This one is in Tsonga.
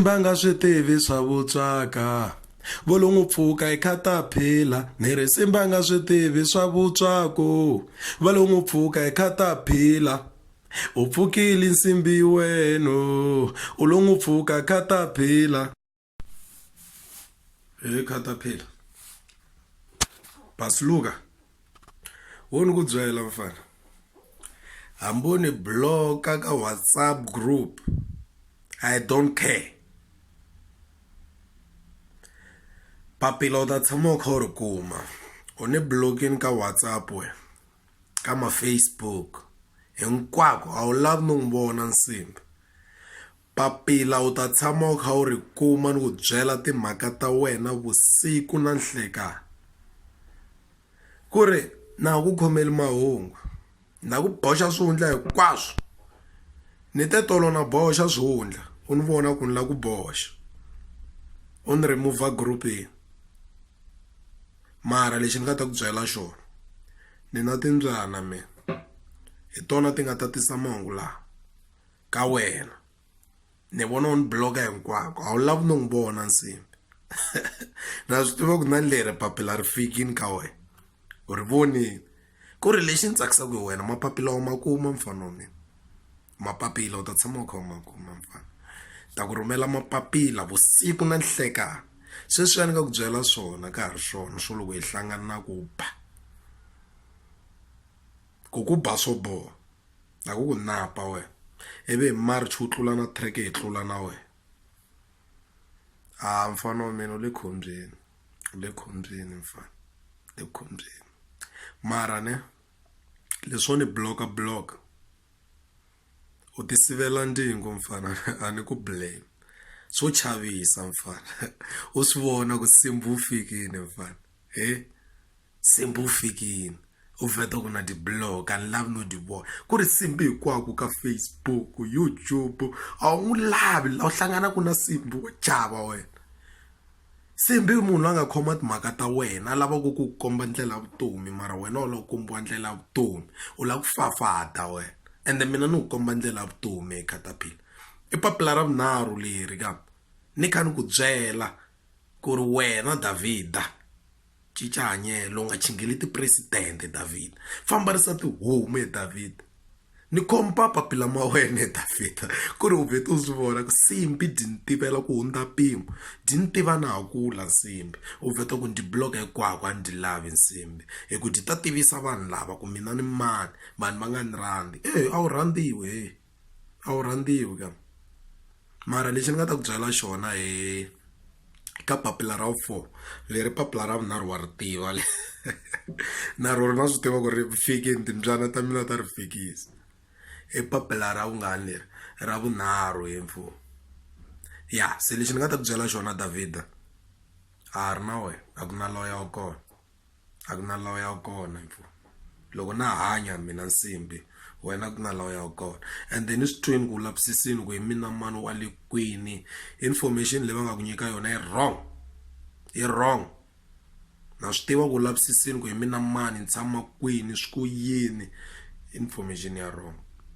va nga swi tivi swa vutswaka vo lo n'wi pfuka hi khataphila ni ri simba nga swi tivi swa vutswaku va lo n'wi pfuka hi khataphila u pfukile nsimbi wenu u lo n'wi pfuka khataphila he khata phela basiluka wo ni ku byela mfana hambi u ni bloka ka whatsapp group i don't care papila u ta tshama u kha u ri kuma u ni blokini ka whatsapp we ka mafacebook hinkwako a wu lavi ni n'wi vona nsimbi Papila u ta tshama u kha u ri kuma ni ku byela timhaka ta wena vusiku na nhlekani. Ku ri, Na ha ku khomeli mahungu. Ni ta ku boxa swihundla hinkwaswo. Ni te tolo na boxa swihundla, u ni vona ku ni lava ku boxa. U ni remove-a group-ini. Mara lexi ni nga ta ku byela xona, ni na timbyana mina, hi tona ti nga ta tisa mahungu lawa. ka wena ni vona u ni bloka hinkwako a wu lavi no n'wi vona nsimbi na swi tiva ku na leri papila ri fikini ka wena u ri vonile ku ri lexi ni tsakisaka hi wena mapapila wa ma kuma mfana wa mina mapapila u ta tshama u kha u ma kuma mfana ta ku rhumela mapapila vusiku na nhlekani sweswiya ni nga ku byela swona ka ha ri swona swo loko hi hlangana na ku ba ku ku ba swo boha. Na ku ku napa wena ivi hi march wu tlula na track hi tlula na wena a mfana wa mina u le khombyeni u le khombyeni mfana u le khombyeni mara ne leswo ni block-a block-a u ti sivela ndzingo mfana a ni ku blame swo chavisa mfana u swi vona ku nsimbhi wu fikini mfana he. Simbi u fikini u vheta ku na ti-blog a ni lavi no ti vona ku ri simbi hinkwaku ka facebook youtube a wu n'wi lavi la u hlanganaku na simbi wa chava wena simbi i munhu la nga khoma timhaka ta wena a lavaku ku komba ndlela ya vutomi mara wena u la ku kombiwa ndlela ya vutomi u la ku fafada wena ende mina ni ku komba ndlela ya vutomi hi kataphila i papila ra vunharhu leri ka ni kha ni ku byela ku ri wena Davhida. cinca hanyelo u nga chingeli tipresidente Davhida fambarisa tihomu ye Davhida ni khomba papila ma wena ye Davhida ku ri u vhete u swi vona ku nsimbhi dyi ni tivela ku hundza mpimo dyi ni tiva na ha kula nsimbhi u vheta ku ni dyi block-a hinkwako a ni dyi lavi nsimbhi hi ku dyi ta tivisa vanhu lava ku mina ni mani vanhu va nga ni rhandzi eyi a wu rhandziwe heyi. a wu rhandziwi ka mara lexi ni nga ta ku byela xona hi ka papila ra vu four leri papila ra vunharhu wa ri tiva le na ro ri na swi tiva ku ri fikile timbyana ta mina ta ri fikisa i papila ra vungani leri ra vunharhu he mfo ya se lexi ni nga ta ku byela xona Davida a ha ri na wena a ku na loya wa kona. a ku na lawa ya kona mfo loko na hanya mina nsimbi wena ku na lawa ya kona and then i swi twini ku lavisisini ku hi mina mani wa le kwini information leyi va nga ku nyika yona yi wrong yi wrong na swi tiva ku lavisisini ku hi mina mani ni tshama kwini swi ku yini information ya wrong.